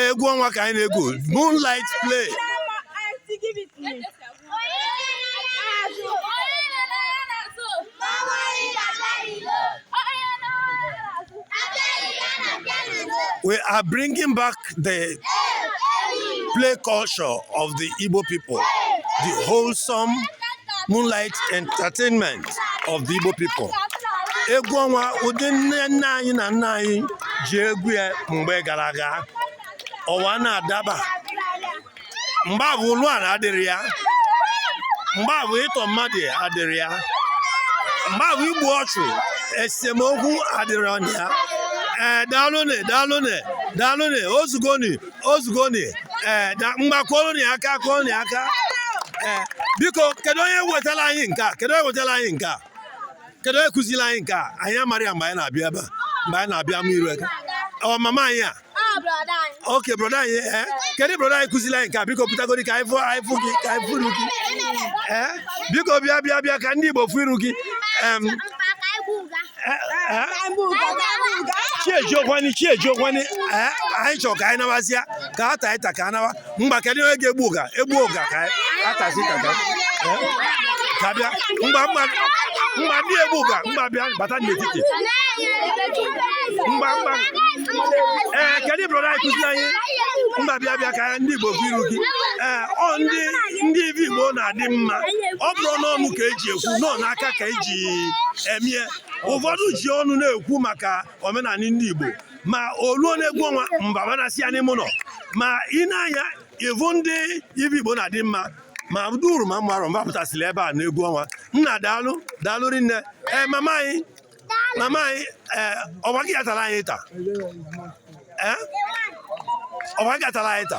egwu ọnwa ka anyị na-egwu moonlight play we are bringing back the play culture of the Igbo people, the wholesome moonlight entertainment of the Igbo people. Egwu ọnwa ụdị nne nna anyị na nna anyị ji egwu ya mgbe gara aga ụwa na-adaba mgbe afụ ụlọ ala adịrọ ya mgbe afụ ịtọ mmadụ adịrọ ya mgbe afụ igbu ọchụ esemokwu adịrọ ya ee daalụnị daalụnị daalụnị o zugonị o zugonị ee ngwa kụọlụnị aka kụọnị aka ee biko kedu onye wetara anyị nke a kedu onye wetara anyị nke a kedu onye kụziri anyị nke a anyị amarọ ya mgbe anyị na-abịa ebe a mgbe anyị na-abịa mụ iru eke ọ mama anyị a okay broda anyị ee eh? kedu broda anyị kụziri anyị nke a biko pụtagodi ka anyị fụ anyị fụ gị ka anyị fụ iru gị ee eh? biko bịa bịa bịa ka ndị Igbo fụ iru gị chi ejiekwanị chi ejiekwanị ee eh? anyị chọrọ ka anyị nawazịa ka a taa ịta ka a nawa ngwa kedu onye ga-egbu ụga egbu ụga ka atazi ka ka ka bịa ngwa ngwa ngwa ndị egbu ụga ngwa bịa bata n'etiti ngwa ngwa ee kedu brọda anyị kụziri anyị ngwa bịa bịa ka ndị Igbo fụ iru gị ee ọ ndị ndị ife Igbo na-adị mma ọ bụrọ n'ọnụ ka e ji ekwu na ọ n'aka ka e ji emie ụfọdụ ji ọnụ na-ekwu maka omenala ndị Igbo ma o luo n'egwu ọnwa fa abanasịa n'ime ụlọ ma i nee anya ị vụ ndị ife Igbo na-adị mma ma duru ma mmarụ fa pụtasịrị ebe a n'egwu ọnwa nna daalụ daalụ rinne ee mama anyị mama anyị ee ọ bụ gị ya-atara anyị ịta ee ọ bụ gị ya-atara anyị ịta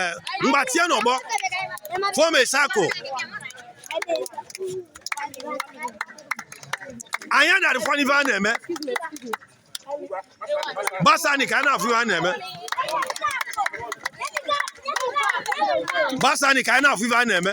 eh, ngwa tienụ ọgbọ form a circle anyị adarọ afụ ife a na-eme gbasanị ka a na-afụ ife a na-eme gbasanị ka a na-afụ ife a na-eme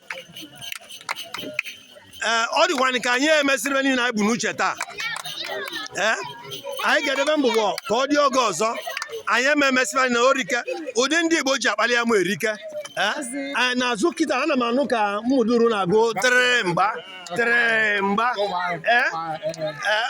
ee ọ dịkwanị ka anyị emesịrọ ife niile anyị bu n'uche taa ee anyị ga-edebe mbụbọ ka ọ dị oge ọzọ anyị eme emesịrị anyị na orike ụdị ndị Igbo ji akpali ya ma erike ee n'azụ kịta ana m anụ ka Ụmụduru na-agụ tere mgba tere mgba ee ee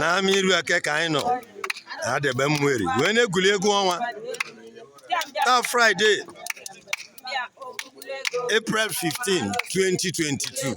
n'ama iru eke ka anyị nọ adegbe ụmụeri wee na-egwuli egwu ọnwa taa fraịde april 15 2022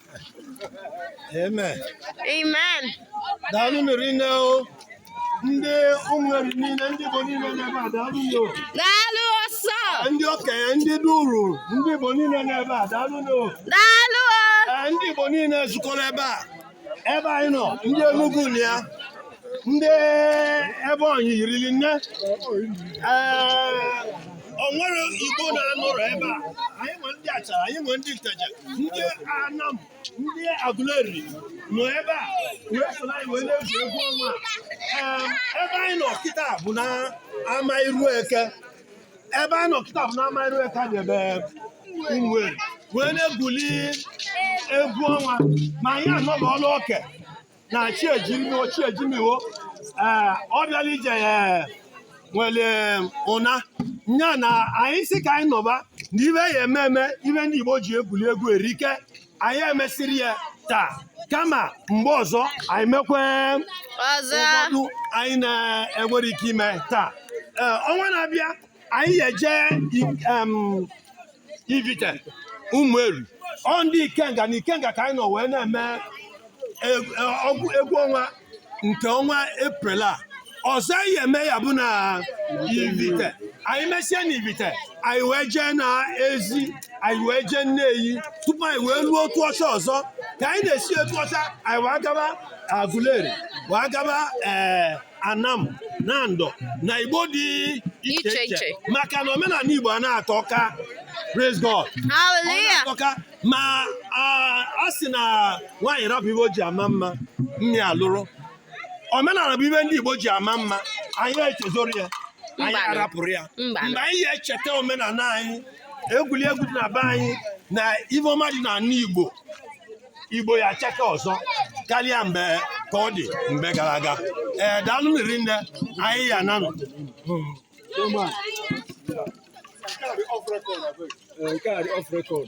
Amen. Amen. Daalụ nụ rinne o. Ndị ụmụeri niile, ndị Igbo niile n'ebe a, daalụ nụ o. Daalụ ọsọ. Ndị okenye, ndị duru, ndị Igbo niile n'ebe a, daalụ nụ o. Daalụ o. Ee, Ndị Igbo niile zukọrọ ebe a. Ebe anyị nọ, ndị Enugu nọ ya. ndị Ebonyi yirili nne o nwerọ igbo na-anọrọ ebe a anyị nwere ndị achara anyị nwere ndị nteje ndị anam ndị agụleri nọ ebe a wee soro anyị wee na-egwu egwu ọnwa ebe anyị nọ kịta bụ na ama iru eke ebe anyị nọ kịta bụ na ama iru eke adegbe ụmụeri wee na-egwuli egwu ọnwa ma anyị anọghị ọlụ ọke na chi ejimiwo chi ejimiwo ee ọ bịalụ ije nwelụ ụna nya na anyị sị ka anyị nọba na ive ya eme eme ive ndị Igbo ji egwuli egwu erike anyị emesịrọ ya taa kama mgbe ọzọ anyị mekwe ọzọ ụfọdụ anyị na-enwerọ ike ime taa ee ọnwa na-abịa anyị eje ivite ụmụeri ọ ndị ikenga na ikenga ka anyị nọ wee na-eme egwu ọnwa nke ọnwa eprel a ọzọ anyị eme ya bụ na ivite anyị mesie na ivite anyị wee jee na ezi anyị wee jee nneyi tupu anyị wee luo otuọcha ọzọ ka anyị na-esi otuọcha anyị wee gaba agụleri wee gaba ee anam nando na igbo dị iche iche maka na omenana igbo a na-atọ ka praise god hallelujah ma a sị na nwaanyị rapụ ive o ji ama mma mma alụrụ omenana bụ ive ndị igbo ji ama mma anyị echezọrọ ya anyị arapụrọ ya mgbe anyị ya echeta omenana anyị egwuregwu dị na be anyị na ive ọma dị n'ana igbo igbo ya chake ọzọ karịa mgbe ka ọ dị mgbe gara aga ee daalụ nụ rinne anyị ya-ananụ nke a dị off record